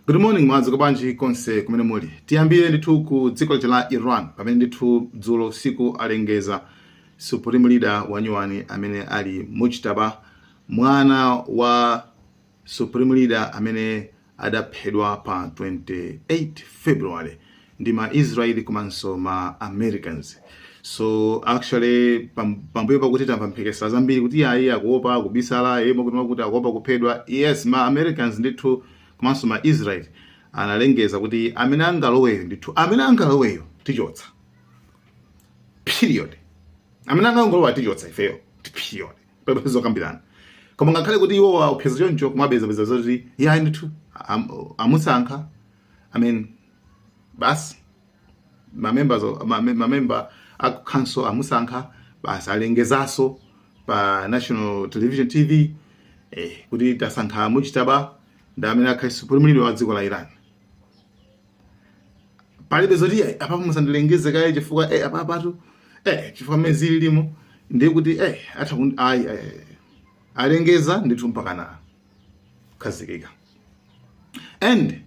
Good morning mwadzuka bwanji konse kumene muli. Tiyambire ndithu ku dziko lija la Iran pamene ndithu dzulo usiku alengeza supreme leader wanyuwani amene ali Mujtaba mwana wa supreme leader amene adaphedwa pa 28 February ndi ma Israel komanso ma Americans so actually pam- pambuyo pakuti tamva mphekesera zambiri kuti ayi akuopa akubisala eh mwakuti mwakuti akuopa kuphedwa yes ma Americans ndithu komanso ma Israel analengeza kuti amene angaloweyo ndithu amene angaloweyo tichotsa period amene angangolowa tichotsa ifeyo period palibe zokambirana koma ngakhale kuti iwo waopseza choncho kumapeza peza zoti yayi ndithu am- amusankha i mean basi mamemba mamemba a council amusankha basi alengezaso pa national television tv eh, kuti tasankha Mujtaba ndi amene akhale supreme leader wa dziko la iran palibe zoti eh, apa musandilengeze kaye chifukwa eh, apa apatu eh, chifukwa mmene zililimu ndiye kuti eh, atha ayi eh, alengeza ndithu mpakana kukhazikika and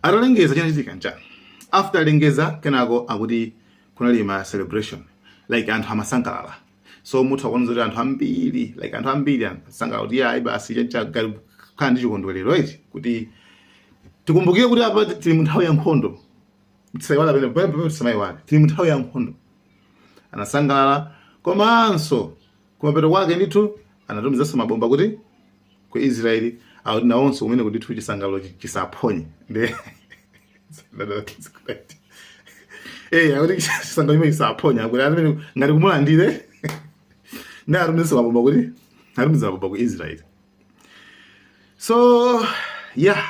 atalengeza chinachitika nchani after alengeza kenako akuti kunali ma celebration like anthu amasangalala so mutha kuona zoti anthu ambiri like anthu ambiri amasangalala kuti ayi basi chanchakhala ndi chikondwerero eti kuti tikumbukire kuti apa tili mu nthawi ya nkhondo tisaiwale pene pamene tisamaiwale tili mu nthawi ya nkhondo anasangalala komanso Kumapeto kwake ndithu anatumizanso mabomba kuti ku Israeli akuti nawonso kumeneko ndithu chisangalalo chi- chisaphonye nde eh akuti chisangalalo chimene chisaphonya akuti amene ngati kumulandira nde atumizanso mabomba kuti atumiza mabomba ku Israeli so yeah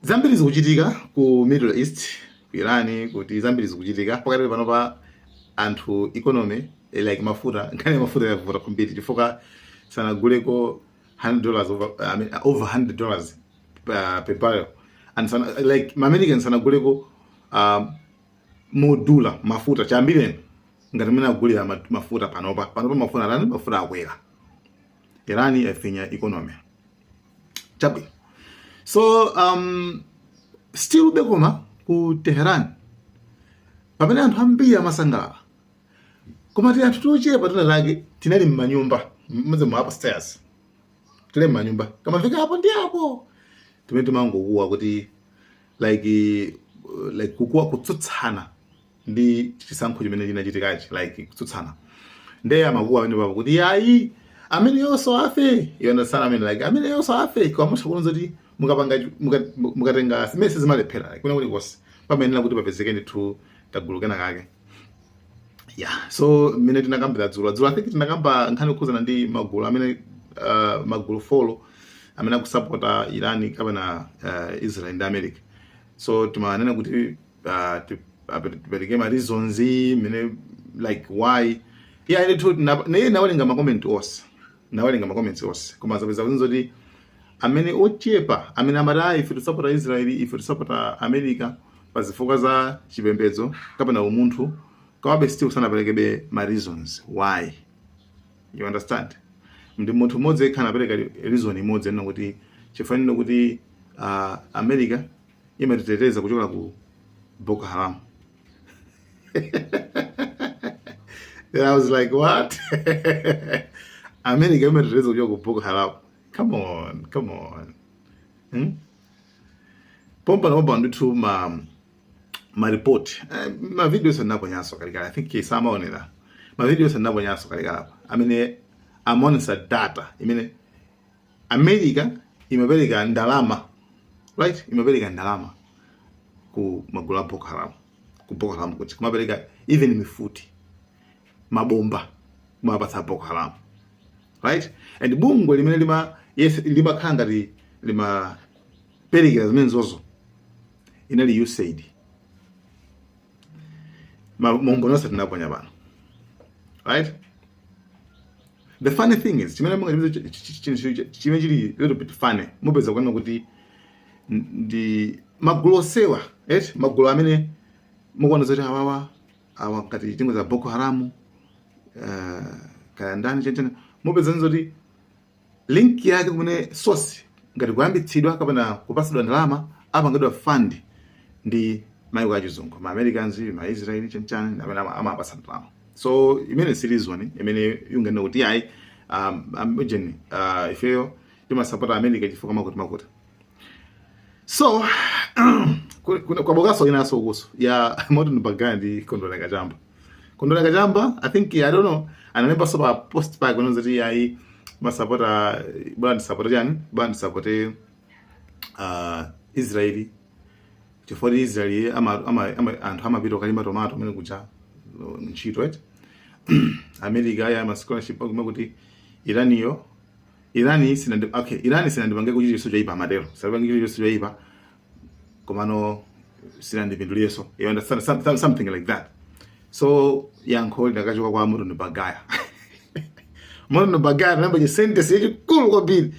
zambiri zikuchitika ku middle east ku irani kuti zambiri zikuchitika pakati pano pa anthu economy eh, like mafuta nkhani ya mafuta yavuta kwambiri chifukwa sanaguleko 100 dollars over, I mean, over 100 dollars uh, per barrel and sana, like maamerican sanaguleko um, modula mafuta chiyambireni ngati mene agulira ma- mafuta panopa panopa mafuta atani mafuta akwera irani yafinya economy chabwino so um, still ube koma ku teheran pamene anthu ambiri amasangalala koma ti anthu tochepa tinatake tinali mmanyumba mmazimu za upstairs tili mmanyumba timafika apo ndi apo timene timangokuwa kuti like uh, like kukuwa kutsutsana ndi chisankho chimene chinachitikachi like kutsutsana nde amakuwa amene baba kuti yayi amene yonso afe you understand amene like amene yonso afe kwamusha kuno zoti mukapanga muka- mukatenga simese zimalephera like kuna kulikonse pamene kuti papezeke ndithu kagulu kena kake yeah so mmene tinakambira dzulo dzulo i think tinakamba nkhani yokhuzana ndi magulu amene uh, magulu four amene akusapota Iran kapena uh, israel ndi america so timanena kuti uh, ti- apere- tipereke ma reasons I mean like why yeah ndithu na- naye nawerenga makomenti onse nawerenga makomenti onse koma zapeza kuti zoti amene ochepa amene amati ayi ife tisapota israeli ife tisapota america pa zifukwa za chipembedzo kapena umunthu kawabe still sanaperekebe ma reasons why you understand ndi munthu mmodzi yekha anapereka reason imodzi ena kuti chifukwa choti uh, america imatiteteza kuchokera ku Boko Haram. Then I was like, what? America imatiteteza kuchokera ku Boko Haram. Come on, come on. Hmm? Pompa na pompa ndithu ma ma report. Eh, ma video sanako nyaso kalikala. I think kisama onera. Ma video sanako nyaso kalikala. I mean, I'm on data. I mean, america imapereka ndalama right imapereka ndalama ku magulu a boko haram ku boko haram kuti kumapereka even mifuti mabomba kumapatsa boko haram right and bungwe limene lima yes limakhala ngati limaperekera zimenezozo linali usaid maumboni onse tinaponya pano right the funny thing is chimene chimene chili little bit funny mupeza kuona kuti ndi magulu onsewa eti magulu amene mukuona zoti awawa awa ngati tinene za boko haramu uh, kaya ndani chanichani mupeza zoti link yake kumene source ngati kuyambitsidwa kapena kupatsidwa ndalama amapangidwa fund ndi maiko achizungu ma americans ma israel chanchani amene ama- amapatsa ndalama so imene si reason imene unganene kuti ayi um, um, ujeni, uh, ifeyo timasapota america chifukwa makuti makuti so kwabookaso inanso yokhudza Morton Bagaya ndi kondwera kachamba kondwera kachamba i think i don't know analembaso pa post pake kunena zoti ayi masapota bwana ndisapote chani bwana ndisapote uh, israeli chifukwa choti israeli ama, ama, ama, anthu amapita kukalima tomato amene kuja uh, ntchito eti america aya ma scholarship akume kuti iraniyo Iran sinandi okay Iran sinandipangeko chinthu chilichonse choipa amatero sinapangeko chinthu chilichonse choipa komano sinandipindulireso you understand Some- some- something like that so yankho linakachoka kwa Morton Bagaya Morton Bagaya anayamba chi sentence chachikulu kwambiri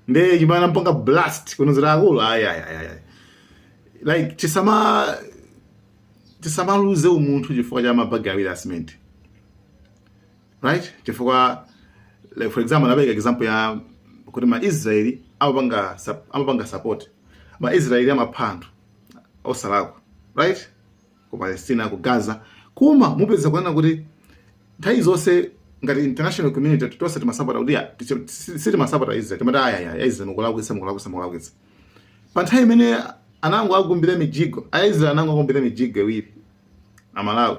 nde chimene anampanga blast kumuuza akulu ayi ayi ayi ayi. like tisama tisamaluze umunthu chifukwa cha mabagi awiri asimenti right chifukwa like for example napereka example ya kuti ma Israeli amapanga sup- amapanga support ma Israeli amapha anthu osalakwa right ku Palestina ku Gaza koma mupeza kuona kuti nthawi zonse ngati international community tonse timasapota kuti ya, ticho- si- sitimasapota Israel timati ayi Israel mukulakwitsa mukulakwitsa mukulakwitsa pa nthawi imene anango akumbira mijigo a Israel anango akumbira mijigo iwiri Amalawi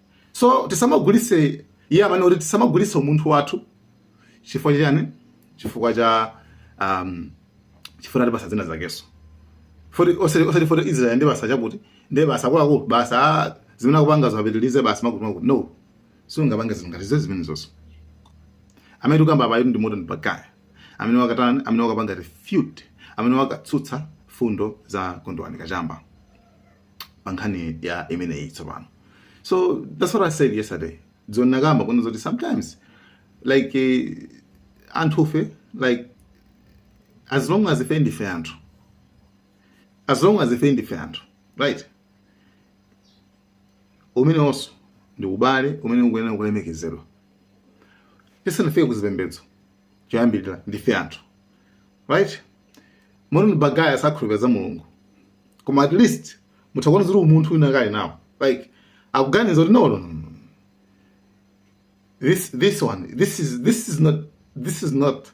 so tisamagulise iye amene kuti tisamagulise umunthu wathu chifukwa chani chifukwa cha um, chifukwa ndi basa zina zakeso foti osati foti israel ndi basa chakuti ndi basa akuluakulu basa ah, zimene akupanga zapitilize basa makuti makuti no siungapange zinthu ngati zezi zimene zonso amene tikukamba apayo ndi Morton Bagaya amene wakatani amene wakapanga refute amene wakatsutsa fundo za Kondwani Kachamba pa nkhani ya imeneyi tsopano so that's what i said yesterday zomwe ndinakamba kuno zoti sometimes like eh, anthufe like as long as ife ndife anthu as long as ife ndife anthu right umenewonso ndi ubale umene ukuyenera kulemekezedwa tisanafike ku zipembedzo choyambirira ndife anthu right Morton Bagaya sakhulupirira za Mulungu koma at least mutha kuona zoti umunthu adakali nawo like akuganiza kuti no, no, no, no. this this one this is this is not this is not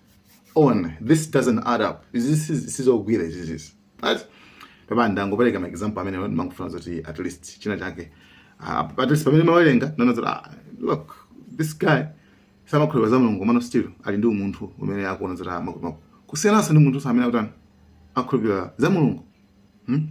on this doesn't add up this is this is all weird this is right apapa ndangopereka maexample amene ndimangofuna zoti at least china chake uh, at least pamene ndimawerenga ndinaona zoti ah, look this guy samakhulupirira za Mulungu komano still ali ndi umunthu umene akuona zoti amakumaku kusiyananso ndi munthu amene akutani akhulupirira za Mulungu hmm?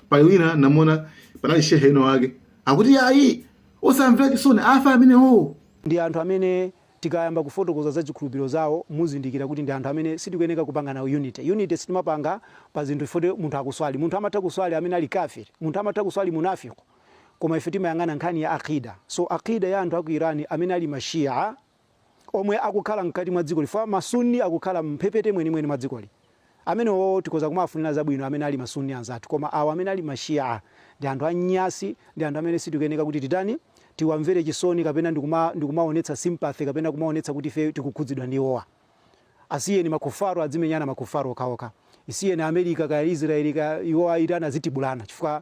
pali wina ndinamuona panali shehe ina yake akuti ayi osamvera chisoni afe amenewowo ndi anthu amene tikayamba kufotokoza za chikhulupiriro zawo muzindikira kuti ndi anthu amene sitikuyeneka kupanga nawo unity unity sitimapanga pa zinthu foti munthu akuswali munthu amatha kuswali amene ali kafir munthu amatha kuswali munafiku koma ife timayang'ana nkhani ya Aqeeda so Aqeeda ya anthu aku Iran amene ali ma Shia omwe akukhala mkati mwa dzikoli chifukwa ma Sunni akukhala mmphepete mwenimweni mwa dzikoli amenewowo tikhoza kumawafunira zabwino amene ali ma Sunni anzathu koma awa amene ali ma Shia ndi anthu a nyasi ndi anthu amene sitikuyeneka kuti titani tiwamvere chisoni kapena ndikuma ndikumaonetsa sympathy kapena kumaonetsa kuti ife tikukhudzidwa ndi iwowa asiyeni ma Kuffaar adzimenyana ma Kuffaar okhaokha isiyeni America kaya Israel kaya iwowa Iran azitibulana chifukwa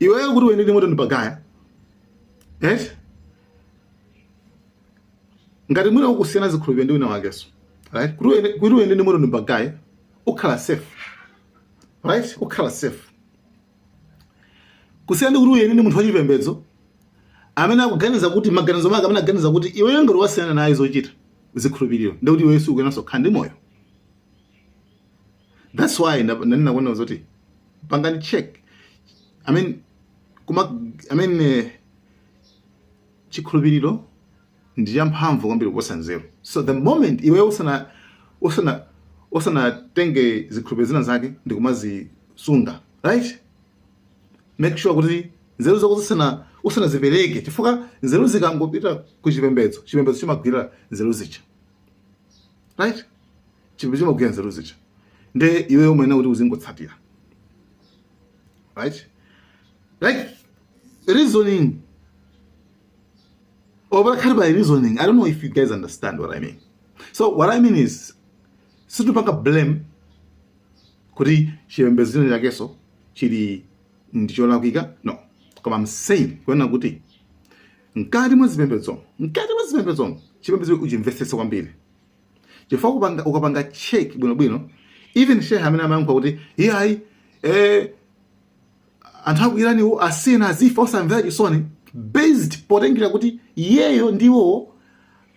iweyo kuti uyende ndi moto ndi bagaya eti ngati mwina ukusiyana zikhulupiriro ndi wina wakeso right kuti uyende- kuti uyende ndi moto ndi bagaya ukhala safe right ukhala safe kusiyana ndi kuti uyende ndi munthu wachipembedzo amene akuganiza kuti maganizo make amene aganiza kuti iweyo ngati wasiyana naye zochita zikhulupiriro ndikuti iweyo sukuyenanso kukhala ndi moyo that's why nanena kunena zoti pangani check i mean kuma i mean eh, chikhulupiriro ndi champhamvu kwambiri kuposa nzeru so the moment iweyo usana usana usanatenge zikhulupiriro zina zake ndi kumazisunga right make sure kuti nzeru zako usana usanazipereke chifukwa nzeru zikangopita ku chipembedzo chipembedzo chimagwira nzeru zija right chipembedzo chimagwira nzeru zija nde iweyo umayenera kuti uzingotsatira right like reasoning opanda kukhala pa reasoning i don't know if you guys understand what i mean so what i mean is sitikupanga blame kuti chipembedzo china chakeso chili ndicholakwika no koma i'm saying kunena kuti mkati mwa zipembedzo mkati mwa zipembedzo chipembedzo uchimvetsetse kwambiri chifukwa kupanga ukapanga check bwino bwino even shehe amene amayankha kuti iyayi eh anthu aku Iraniwo asiyeni azifa osamvera chisoni based potengera kuti iyeyo ndiwo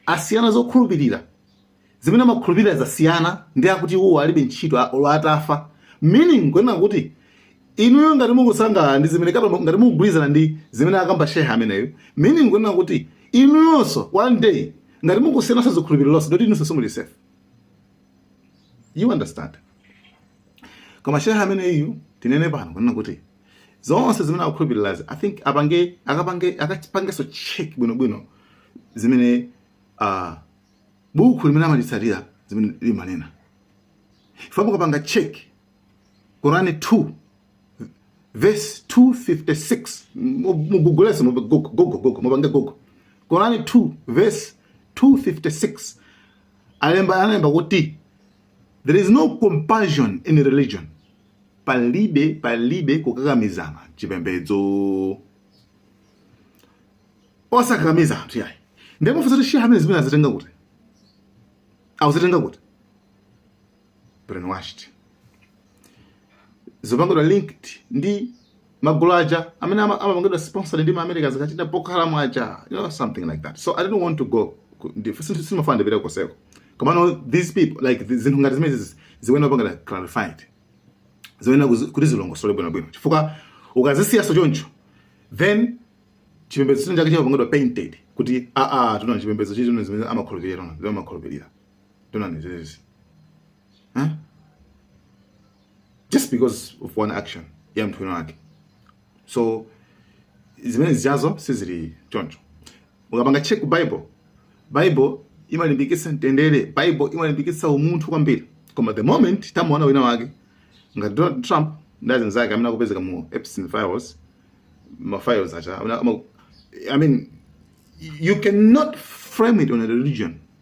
asiyana zokhulupirira zimene amakhulupirira zasiyana ndi akuti iwowo alibe ntchito a- olo atafa meaning kunena kuti inuyo ngati mukusangalala ndi zimene kapena ngati mukugwirizana ndi zimene akamba shehe ameneyo meaning kunena kuti inuyonso one day ngati mungosiyananso zikhulupirirozonso ndoti inunso simuli safe you understand koma shehe ameneyu tinene pano kunena kuti zonse zimene akukhulupirirazi i think apange akapange akapangeso check bwinobwino zimene uh, buku limene amalitsatira zimene limanena ife mukapanga check Korani 2 vesi 256 mugugule so mugo gogo mupange Google Korani 2 vesi 256 alemba analemba kuti there is no compassion in religion palibe palibe kukakamizana chipembedzo osakakamiza anthu yayi nde pofunsa kuti shehe amene zimenezi azitenga kuti akuzitenga kuti brainwashed zopangidwa linked ndi magulu aja amene ama- amapangidwa sponsored ndi maamericans kachita boko haram aja you know something like that so i didn't want to go ku- ndi- sin- simafuna ndipite koseko komano these people like zi- zinthu ngati zimene zizi ziyenera kupangidwa clarified ziyenera kuzi- kuti zilongosole bwinobwino chifukwa ukazisiyaso choncho then chipembedzo chino chake chimapangidwa painted kuti aa atu chipembedzo chino zimene amakhulupirira tino zimene amakhulupirira Atu ndi izizi. Huh? Just because of one action ya munthu wina wake. So zimene zijazo sizili choncho. Ukapanga check ku Bible, Bible imalimbikitsa mtendere, Bible imalimbikitsa umunthu kwambiri. Koma the moment tamuona wina wake ngati Donald Trump ndi anzake amene akupezeka mu Epstein files, ma files aja, I mean you cannot frame it on a religion.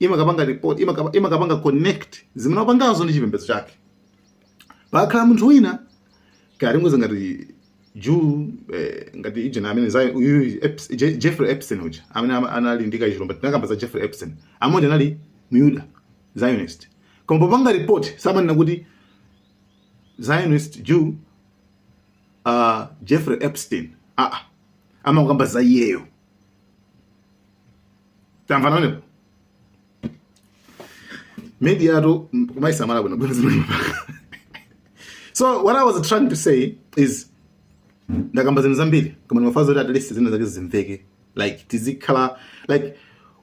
imakapanga report imakapa- imakapanga connect zimene wapangazo ndi chipembedzo chake pakakhala munthu wina kapena ngoti ngati jew eh, ngati ujeni amene zayi uyu Eps- Je- jeffrey epstein uja amene ama- anali ndi kachilumba tinakamba za jeffrey epstein ameneuja anali myuda zionist koma papanga report samanena kuti zionist jew uh, jeffrey epstein aa amakamba za iyeyo tamvana nanga media-tu kumaisamala bwino bwino zimene amapanga so what i was trying to say is ndakamba zinthu zambiri koma ndimafuna zoti at least zina zake zimveke like tizikhala like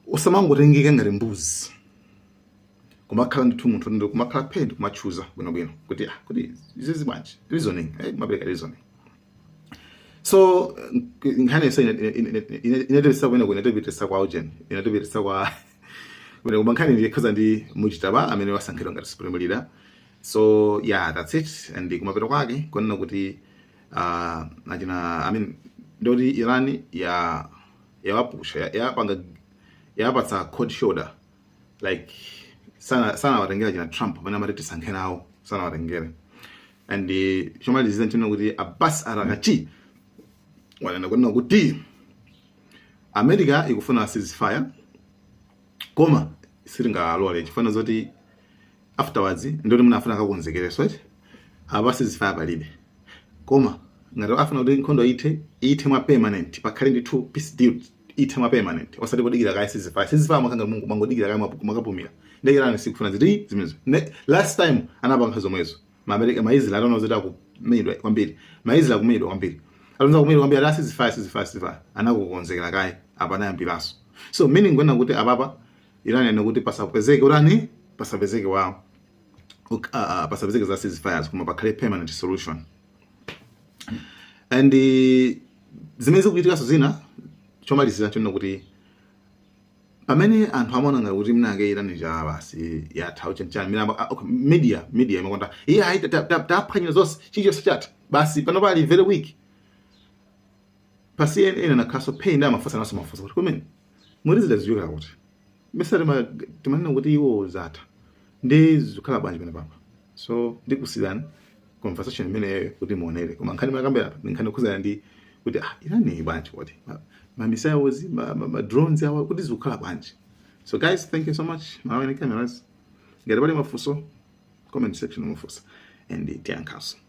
usamangotengeka ngati mbuzi kumakhala ndithu munthu ndi kumakhala phee n'kumatchuza bwinobwino kuti ah kuti izizi bwanji reasoning eh imapereka reasoning so nkhani yese inatipitisa kwene kwene inatipitisa kwa ujeni inatipitisa kwa kwene koma nkhani ndiyekhaza ndi muchitaba amene wasankhidwa ngati supreme leader so yeah that's it and kumapeto kwake kunena kuti uh, achina i mean ndoti iran ya yawapusha ya- yapanga yapatsa cold shoulder like sana- sanawatengere china trump pamene amati tisankhe nawo sanawatengere and eh, chomalizira nchino kuti abbas araghchi wanena kunena kuti america ikufuna ceasefire koma sitingalole chifukwa choti afterwards ndoti mwina afuna akakonzekereso eti apa ceasefire palibe koma ngati afuna kuti nkhondo ithe ithe mwa permanent pakhale ndithu peace deal ithe mwa permanent osati kodikira kaye ceasefire ceasefire imakhala ngati mwangodikira kaye mwapu- mwakapumira ndiye irani sikufuna zinthu zimenezo Ne- last time anapanga zomwezo maamerika maisrael ataona zoti akumenyedwa kwambiri maisrael akumenyedwa kwambiri atayamba kumenyedwa kwambiri ati ceasefire ceasefire ceasefire anakakonzekera kaye apa anayambiranso so meaning kunena kuti apapa irani anena kuti pasapezeke urani pasapezeke wawo Uk- ah, ah, pasapezeke za ceasefires koma pakhale permanent solution and eh, zimene zikuchitikanso zina chomalizira chonena kuti pamene anthu amaona ngati kuti mnake Iran ija basi yatha uchanchani miramba ah, okay, media media imakonda iye ayi taphwanyira zonse chilichonse chatha basi pano ali very weak pa CNN anakhalanso pansi ndi kumafunsananso mafunso kuti kumene muti zizichokera kuti mesa tima- timanena kuti iwo zatha ndi zikhala bwanji penepapa so ndikusiyirani conversation imeneyo kuti muonere koma nkhani timakambira apa ndi nkhani yokhudzana ndi kuti ah Iran bwanji kodi Ma- ma missiles ma, ma, ma drones awa kuti zikukhala bwanji so guys thank you so much malawi cameras ngati pali mafunso comment section mufunsa and tiyankhaso